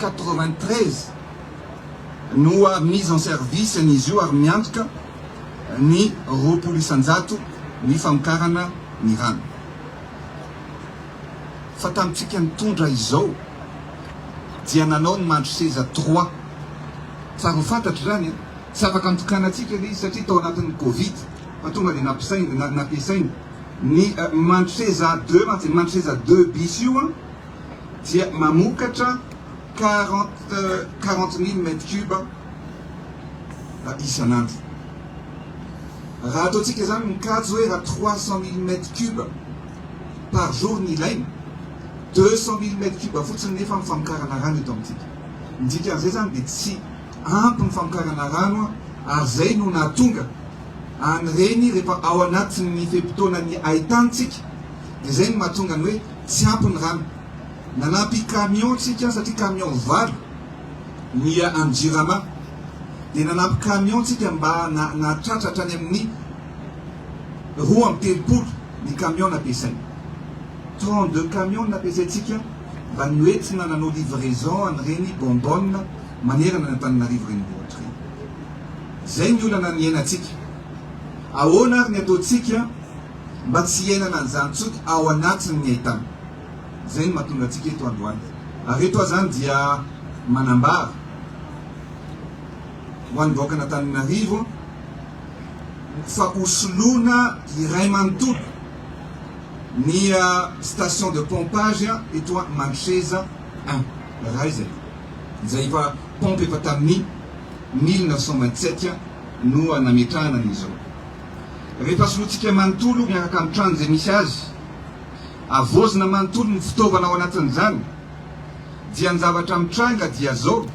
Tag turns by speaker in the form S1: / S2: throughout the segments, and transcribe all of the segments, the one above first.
S1: quatre-vingt-treize no mise en service an'izy io ary miantoka ny roapolo isan-jato ny famokarana ny rano. Fa tamintsika nitondra izao dia nanao ny mandry seza trois. Tsara ho fantatro izany e! Tsy afaka nitokanantsika ilay izy satria tao anatin'ny covid fa tonga dia nampiasaina ny mandry seza deux mantsy, ny mandry seza deux bis io an! dia mamokatra quarante quarante mille mètre cube isan'andro. Raha ataontsika izany mikajy hoe raha trois cent mille mètre cube par jour ny ilaina, deux cent mille mètre cube fotsiny nefa ny famokarana rano eto amintsika. Ny dikan'izay izany dia tsy ampy ny famokarana rano ary izay no nahatonga an'ireny rehefa ao anatin'ny fe-potoanan'ny hain-tanintsika, Izay no mahatonga ny hoe tsy ampy ny rano. Nanampy camion tsika satria camion valo miha any Jirama. Dia nanampy camion tsika mba nahatratra hatrany amin'ny roa amby telopolo ny camion nampiasaina. Trente deux camion no nampiasaintsika mba noentina nanao livraison an'ireny bonbonne manerana an'Antananarivo renivohitra ireny. Izay ny olana niainantsika. Ahoana ary ny ataontsika? Mba tsy hiainana an'izany intsony ao anatiny ny haitany. Izay no mahatonga antsika eto androany. Ary eto aho izany dia manambara ho an'ny vahoakan'Antananarivo fa ho soloina iray manontolo ny station de pompage eto Mantreza un. Iray izay. Izay efa pompe efa tamin'ny mille neuf cent vingt-sept no nametrahana an'izao. Rehefa solointsika manontolo miaraka amin'ny trano izay misy azy, havaozina manontolo ny fitaovana ao anatin'izany, dia ny zavatra mitranga dia izao,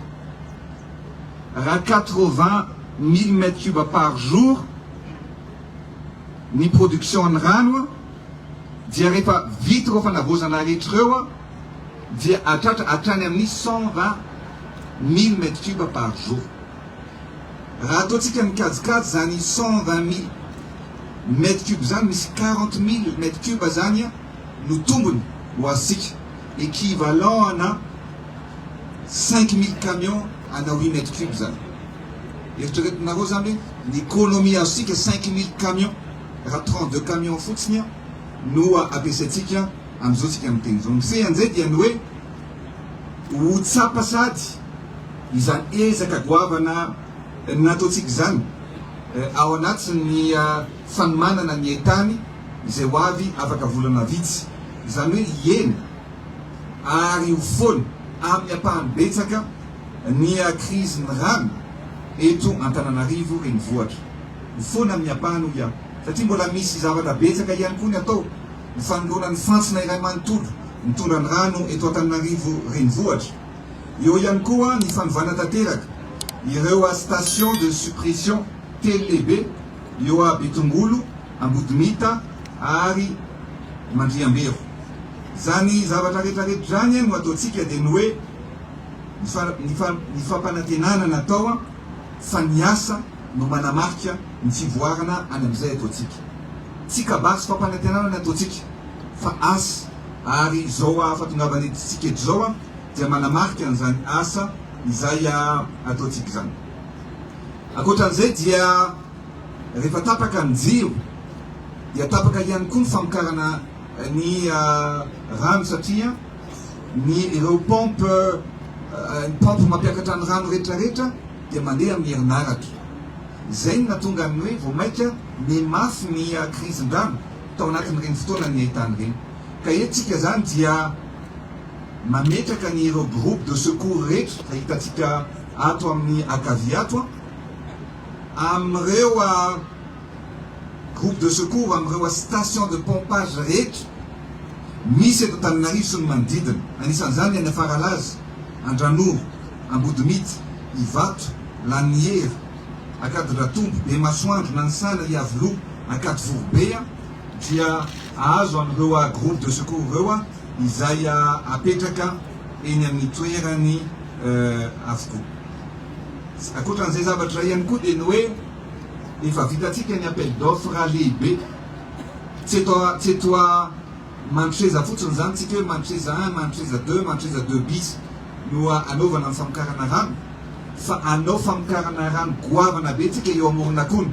S1: raha quatre-vingts mille mètres cubes par jour ny production-n'ny rano, dia rehefa vita ireo fanavaozana rehetra ireo, dia hahatratra hatrany amin'ny cent-vingt mille mètres cubes par jour. Raha ataontsika ny kajikajy izany cent vingt mille mètre cube izany, misy quarante mille mètre cube izany no tombony ho azontsika, equivalent ana cinq mille camions ana huit mètre cube izany. Eritreretinareo izany hoe ny economie azontsika cinq mille camions raha trente deux camions fotsiny no ampiasaintsika amin'izao tsika miteny izao. Ny fean'izay dia ny hoe ho tsapa sady. Izany ezaka goavana nataontsika izany ao anatin'ny fanomanana ny hain-tany izay ho avy afaka volana vitsy, izany hoe hiena ary ho foana amin'ny ampahany betsaka ny krizin'ny rano eto Antananarivo Renivohitra. Ho foana amin'ny ampahany hoy aho satria mbola misy zavatra betsaka ihany koa ny atao, ny fanoloana ny fantsona iray manontolo mitondra ny rano eto Antananarivo Renivohitra, Eo ihany koa ny fanovana tanteraka ireo stations de suppression telo lehibe eo à Betongolo, Ambodimita ary Mandriambero. Izany zavatra retraretra izany no ataontsika dia ny hoe ny fampanantenana natao fa ny asa no manamarika ny fivoarana any amin'izay ataontsika. Tsy kabary sy fampanantenana ny ataontsika fa asa. ary izao hahafatongavan'ity tsiketra izao dia manamarika an'izany asa izay ataontsika izany. Ankoatra an'izay dia rehefa tapaka ny jiro dia tapaka ihany koa ny famokarana ny rano satria ny ireo pompe ny pompe mampiakatra ny rano rehetrarehetra dia mandeha amin'ny herinaratra. Izay no nahatonga ny hoe vao maika niha mafy ny krizindrano. tao anatin'ireny fotoana nihaintany ireny. Ka eto tsika izany dia mametraka ny ireo groupe de secours rehetra izay hitantsika ato amin'ny ankavia ato amin'ireo groupe de secours amin'ireo station de pompage rehetra misy eto Antananarivo sy ny manodidina. Anisan'izany any Afaralaza, Andranoro, Ambodimity, Ivato, Lanin'ny Hery, Ankadiratombo, Bemasoandro, Nanisala, Iavoloha, Ankadivorobe dia azo amin'ireo groupes de secours ireo izay apetraka eny amin'ny toerany avokoa. Ankoatran'izay zavatra iray ihany koa dia ny hoe efa vitantsika ny appel d'offre lehibe, tsy eto, tsy eto Manoseza fotsiny izany tsika hoe manoseza un, manoseza deux, manoseza deux bis no anaovana ny famokarana rano fa anao famokarana rano goavana be tsika eo Amoronakona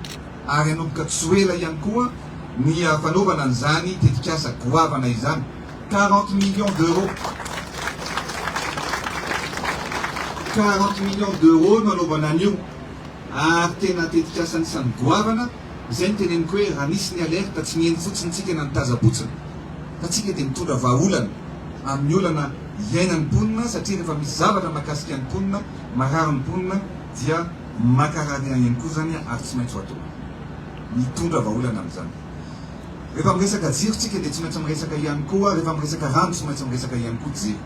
S1: ary hanomboka tsy ho ela ihany koa ny fanaovana an'izany tetikasa goavana izany. Quarante millions d'euros, quarante millions d'euros no anaovana an'io ary tena tetikasa anisan'ny goavana. Izay no teneniko hoe raha nisy ny alerte tsy niheno fotsiny tsika na nitazabotsina fa tsika dia mitondra vahaolana amin'ny olana iainan'ny mponina satria rehefa misy zavatra mahakasika ny mponina, marary ny mponina dia maka rarian ihany koa izany ary tsy maintsy ho atao. Mitondra vahaolana amin'izany. Rehefa miresaka jiro tsika dia tsy maintsy miresaka ihany koa, rehefa miresaka rano tsy maintsy miresaka ihany koa jiro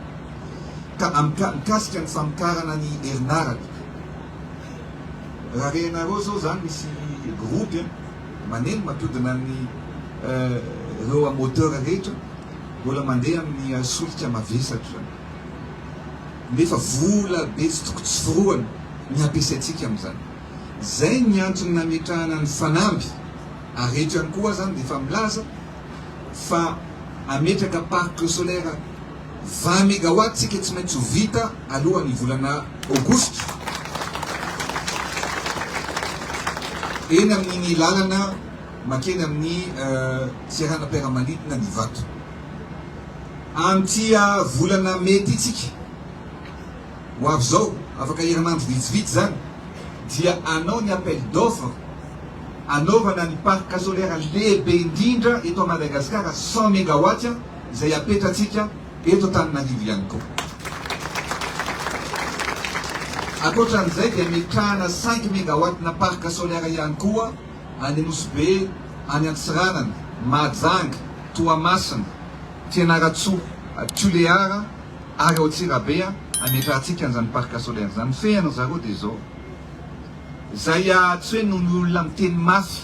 S1: ka mikasika ny famokarana ny herinaratra. Raha renareo zao zany misy groupe an, maneno matodina ny reo a moteur rehetra mbola mandeha amin'ny solika mavesatra zany nefa vola be tsy toko tsy forohana ny ampiasaintsika amin'izany. Zay ny antony nametrahana ny fanamby ary eto ihany koa aza an defa milaza fa hametraka parc solaire vingt megawatts tsika tsy maintsy ho vita alohan'ny volana aogositra eny amin'iny lalana makeny amin'ny seranam-piaramanidina ny Ivato. Amin'ity volana mey ity tsika. ho avy izao, afaka hiramandry vitsivitsy izany, dia hanao ny appel d'offre hanaovana ny parc solaire lehibe indrindra eto Madagascar cent megawatts izay hapetratsika eto Antananarivo ihany koa. Ankoatran'izay dia metrahana cinq megawatts na parc solaire ihany koa any Nosy-Be, any Antsiranana, Mahajanga, Toamasina, Fianarantsoa, Tulear, Ary ao Tsirabe a, ametrahantsika an'izany parc solaire izany, fehiny ry zareo dia izao. Izay a, tsy hoe noho ny olona miteny mafy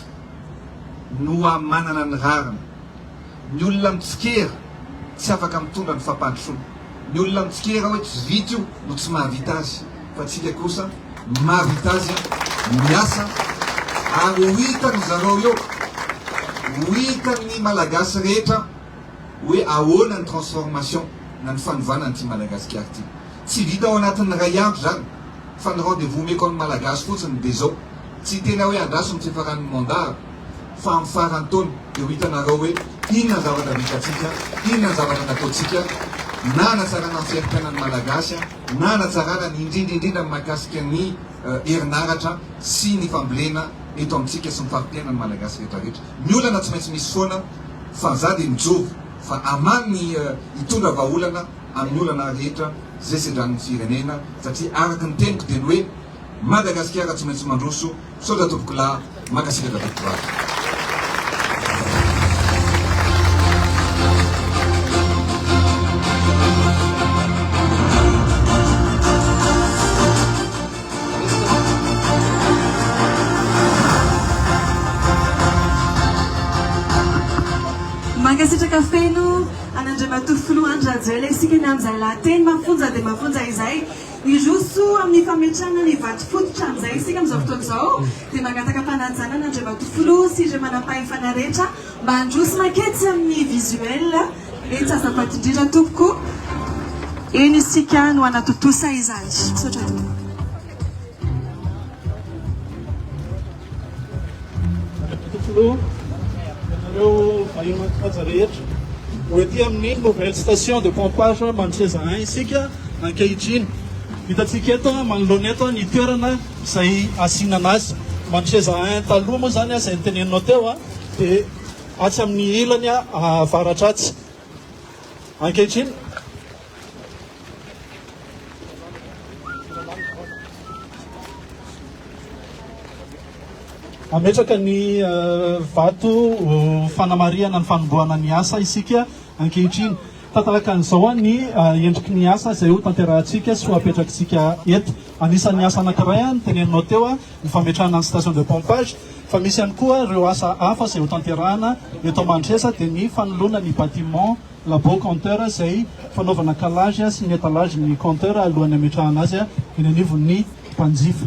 S1: no a manana ny rariny. Ny olona mitsikera tsy afaka mitondra ny fampandrosoana. Ny olona mitsikera hoe tsy vita io no tsy mahavita azy, fa tsika kosa mahavita azy miasa ary ho hitan-dry zareo eo, ho hitan'ny Malagasy rehetra. hoe ahoana ny transformation na ny fanovana an'ity Madagasikara ity. Tsy vita ao anatin'ny iray andro izany fa ny rendez vous omeko amin'ny Malagasy fotsiny dia izao, tsy tena hoe andraso ny fifaran'ny mandat fa amin'ny faran'ny taona dia ho hitanareo hoe inona ny zavatra vitantsika, inona ny zavatra nataontsika na hanatsarana ny fiaim-piainan'ny Malagasy na hanatsarana ny indrindra indrindra ny mahakasika ny herinaratra sy ny fambolena eto amintsika sy ny fari-piainan'ny Malagasy rehetra rehetra. Ny olana tsy maintsy misy foana fa za de mijoro fa aman ny hitondra vaholana amin ny olana rehetra ze sedran ny firenena satria araka ny teniko de ny hoe Madagasikara tsy maintsy mandroso misaotra tompoko lahy mankasitraka tompoko vavy.
S2: Mankasitraka feno an'Andriamatoa Filoha Andry Rajoelina isika ny amin'izay lahateny mafonja dia mafonja izay. Hiroso amin'ny fametrahana ny vato fototra amin'izay isika amin'izao fotoana izao dia mangataka fanajana an'Andriamatoa Filoha sy ireo manampahefana rehetra mba handroso maketsy amin'ny visuel. Etsy azafady indrindra tompoko.
S3: Eny isika no hanatontosa izany. Misaotra tompoko. Ho ety amin'ny nouvelle station de pompage Mantreza un isika ankehitriny. Hitantsika eto manoloana eto ny toerana izay hasinana azy. Mantreza un taloha moa izany izay noteneninao teo dia. atsy amin'ny ilany avaratra atsy. Ankehitriny, hametraka ny vato fanamarihana ny fanombohana ny asa isika ankehitriny. Tantaraka an'izao ny endriky ny asa izay hotanterahantsika sy ho apetrakitsika eto. Anisan'ny asa anankiray ny teneninao teo ny fametrahana ny station de pompage fa misy ihany koa ireo asa hafa izay ho tanterahana eto Mandresa dia ny fanoloana ny bâtiment labo compteur izay fanaovana calage sy ny étalage ny compteur alohan'ny hametrahana azy eny anivon'ny mpanjifa.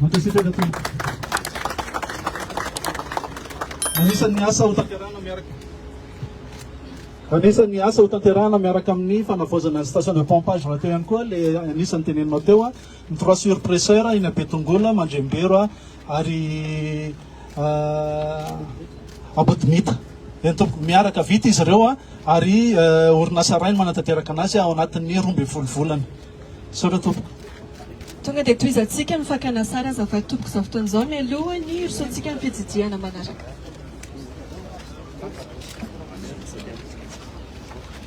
S3: Mankasitraka tompoko. Anisan'ny asa ho tanterahana miaraka Anisan'ny asa ho tanterahana miaraka amin'ny fanavaozana ny station de pompage rahateo ihany koa ilay anisan'ny tenenina teo Ny trois surpresseurs eny Betongolo, Mandrembero ary Ambodimita. Eny tompoko, miaraka vita izy ireo ary orinasa iray no manatanteraka anazy ao anatin'ny roa ambin'ny folo volana. Misaotra tompoko. Tonga dia
S2: tohizantsika ny fakana sary azafady tompoko izao fotoana izao mialoha ny hirosoantsika amin'ny fijijihana manaraka.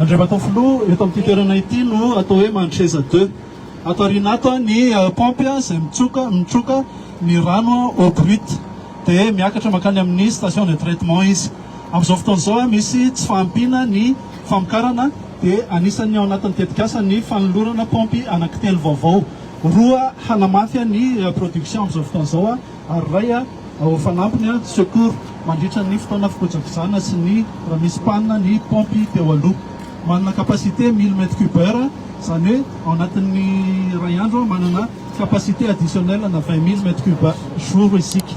S3: Andriamatoafiloha, eto amin'ity toerana ity no atao hoe Mantreza deux. Ato aoriana ato ny paompy izay mitsoka, mitroka ny rano eau brute, dia miakatra mankany amin'ny station de traitement izy. Amin'izao fotoana izao, misy tsy fahampiana ny famokarana, dia anisan'ny ao anatin'ny tetikasa ny fanolorana paompy anankitelo vaovao, roa hanamafy ny production amin'izao fotoana izao, ary ray ao fanampiny, secours, mandritra ny fotoana fikojakojana sy ny raha misy panne ny paompy teo aloha. Manana capacité mille mètres cube heure, izany hoe ao anatin'ny iray andro manana capacité additionnelle ana vingt mille mètres cube jour isika.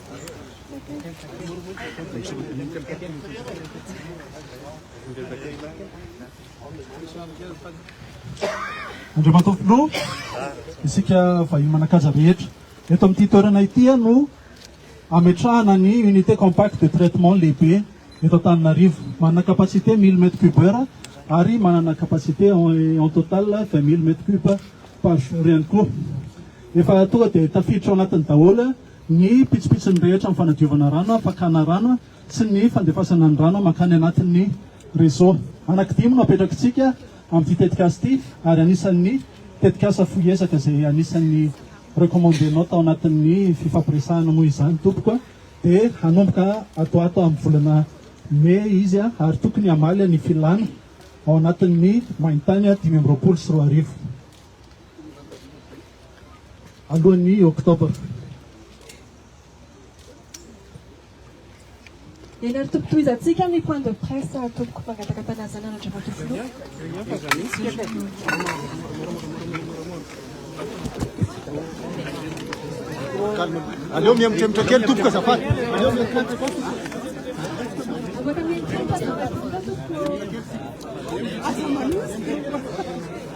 S3: Andriamatoa Filoha, isika vahiny manan-kaja rehetra. Eto amin'ity toerana ity no ametrahana ny unité compacte de traitement lehibe eto Antananarivo. Manana capacité mille mètres cube heure ary manana capacité en total vingt mille mètres cube par jour ihany koa. Efa tonga dia tafiditra ao anatiny daholo ny pitsopitsony rehetra amin'ny fanadiovana rano, fakana rano sy ny fandefasana ny rano mankany anatin'ny réseau. Anakidimy no apetrakitsika amin'ity tetikasa ity ary anisan'ny tetikasa fohy ezaka izay anisan'ny recommande-nao tao anatin'ny fifampiresahana moa izany tompoko a! dia hanomboka atoato amin'ny volana mey izy a! ary tokony hamaly ny filana ao anatin'ny maintany dimy amby roapolo sy roa arivo. alohan'ny Oktobra. Ianareo
S2: tompoko tohizantsika ny point de presse tompoko mangataka fanazana an'Andriamatoa Filoha.
S4: Aleo mihemotremitra kely tompoko azafady. Aleo mihemotremitra.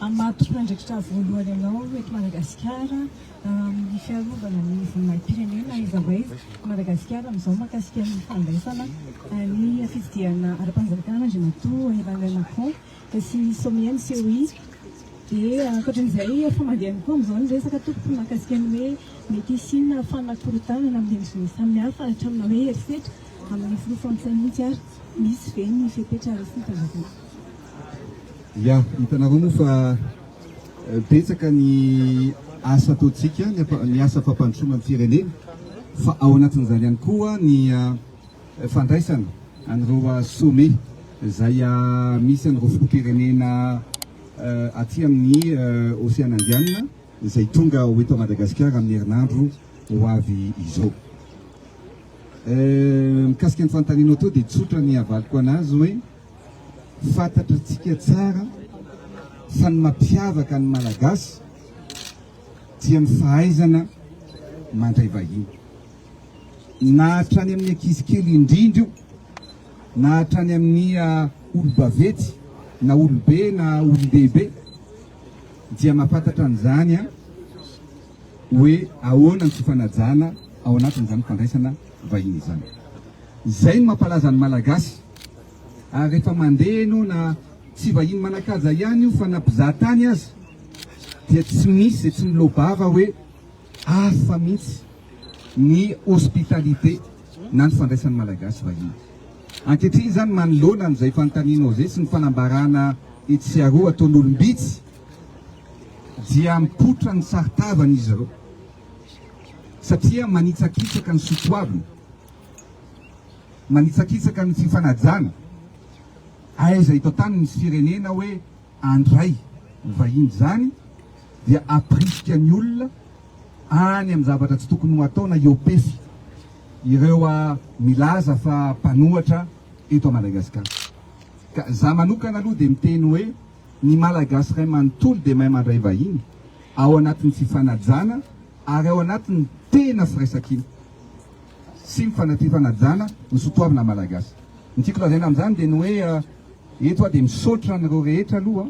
S5: Hamato mpiandraikitra voalohany anao eto Madagasikara amin'ny fiarovana ny voninahi-pirenena iza way i Madagasikara amin'izao mahakasika ny fandraisana ny fifidianana ara-panjakana Andriamatoa Emmanuel Macron sy ny sommet ny COI dia ankoatran'izay efa mandeha ihany koa amin'izao ny resaka tompoko mahakasika ny hoe mety hisiana fanakorontanana amin'ny endriny samihafa hatramina hoe herisetra amin'ny filoha frantsay mihitsy ary misy ve ny fepetra raisina tanjakanana.
S1: Ya, hitanareo moa fa betsaka ny asa ataontsika, ny asa fampandrosoana ny firenena, fa ao anatin'izany ihany koa ny fandraisana an'ireo sommet izay misy an'ireo filoham-pirenena aty amin'ny Oseana Indianina izay tonga ho eto Madagasikara amin'ny herinandro ho avy izao. Mikasika ny fanontanianao teo dia tsotra ny havaliko anazy hoe Fantatratsika tsara fa ny mampiavaka ny Malagasy dia ny fahaizana mandray vahiny. Na hatrany amin'ny ankizy kely indrindra io, na hatrany amin'ny olo-baventy, na olo-be na olon-dehibe dia mampantatra an'izany hoe ahoana ny fifanajana ao anatin'izany fandraisana vahiny izany. Izay no mampalaza ny Malagasy. Ary efa mandeha ianao na tsy vahiny manan-kaja ihany io fa na mpizaha tany aza dia tsy misy izay tsy miloa-bava hoe hafa mihitsy ny hospitalité na ny fandraisan'ny Malagasy vahiny. Ankehitriny izany manoloana an'izay fanontanianao izay sy ny fanambarana etsy aroa ataon'olom-bitsy dia mipoitra ny saron-tavany izy ireo satria manitsakitsaka ny soatoavina. Manitsakitsaka ny fifanajana aiza eto an-tany misy firenena hoe andray ny vahiny izany dia aprisika ny olona any amin'ny zavatra tsy tokony ho atao na iopefy ireo milaza fa mpanohatra eto Madagasikara. Ka za manokana aloha dia miteny hoe ny Malagasy ray manontolo dia mahay mandray vahiny ao anatin'ny fifanajana ary ao anatin'ny tena firaisankina. sy ny fanatri-panajana ny sotoavina malagasy. Ny tiako lazaina amin'izany dia ny hoe eto aho dia misaotra an'ireo rehetra aloha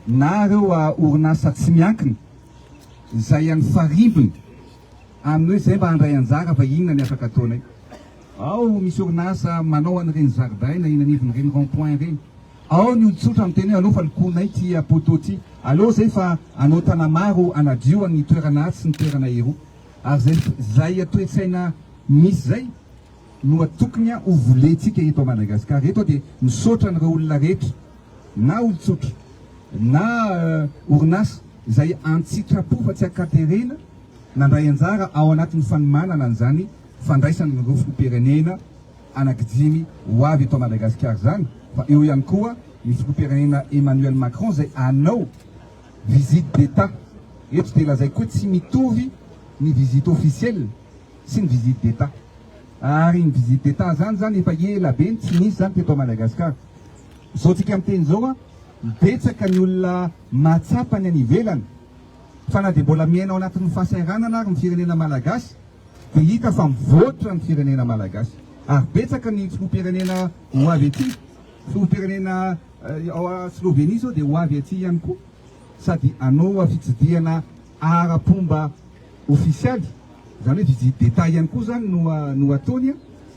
S1: na ireo orinasa tsy miankina izay any farimbona amin'ny hoe izay mba handray anjara fa inona ny afaka ataonay. Ao misy orinasa manao an'ireny zaridaina eny anivon'ireny rond point ireny. Ao ny olon-tsotra miteny hoe aleo fa lokoinay ity poteau ity, aleo izay fa anao tanamaro hanadio an'ny toerana atsy sy ny toerana eroa. ary zay zay toetsaina misy zay no atokony ho volentsika eto Madagascar eto de misaotra an'ireo olona rehetra na olon-tsotra na orinasa zay antsitrapo fa tsy ankaterena nandray anjara ao anatin'ny fanomanana an'izany fandraisana ny filoham-pirenena anakidimy ho avy eto Madagascar zany fa eo ihany koa ny filoham-pirenena Emmanuel Macron zay anao visite d'Etat, eto dia lazaiko hoe tsy mitovy ny visite officielle sy ny visite d'Etat. Ary ny visite d'Etat zany zany efa ela be no tsy nisy zany teto Madagascar. Zao tsika miteny zao an, betsaka ny olona mahatsapa ny any ivelany, fa na dia mbola miaina ao anatin'ny fahasahiranana ary ny firenena Malagasy dia hita fa mivoatra ny firenena Malagasy. Ary betsaka ny filoham-pirenena ho avy aty, filoham-pirenena, Ao a Slovenia zao dia ho avy aty ihany koa sady hanoa fitsidihana ara-pomba ofisialy, zany hoe visite d'Etat ihany koa zany no no ataony a,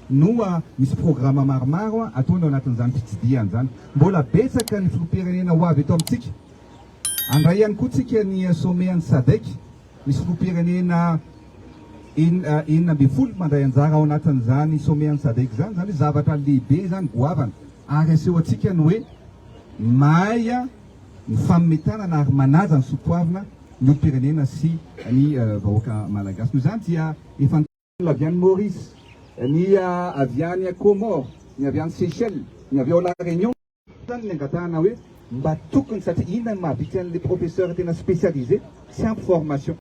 S1: no misy programa maromaro a ataony ao anatin'izany fitsidihany zany. Mbola betsaka ny filoham-pirenena ho avy eto amintsika. Handray ihany koa tsika ny sommet an'i Sadec, misy filoham-pirenena. enina enina ambin'ny folo mandray anjara ao anatin'izany somehan'ny sadec izany, izany hoe zavatra lehibe izany goavana ary aseho antsika ny hoe mahay ny fametanana ary manaja ny soatoavina ny olom-pirenena sy ny vahoaka malagasy. Noho izany dia efa avy any Maurice, ny avy any Comores, ny avy any Seychelles, ny avy ao La Réunion izany ny angatahana hoe mba tokony satria inona no mahabitsy an'ilay professeur tena spécialisé tsy ampy formation.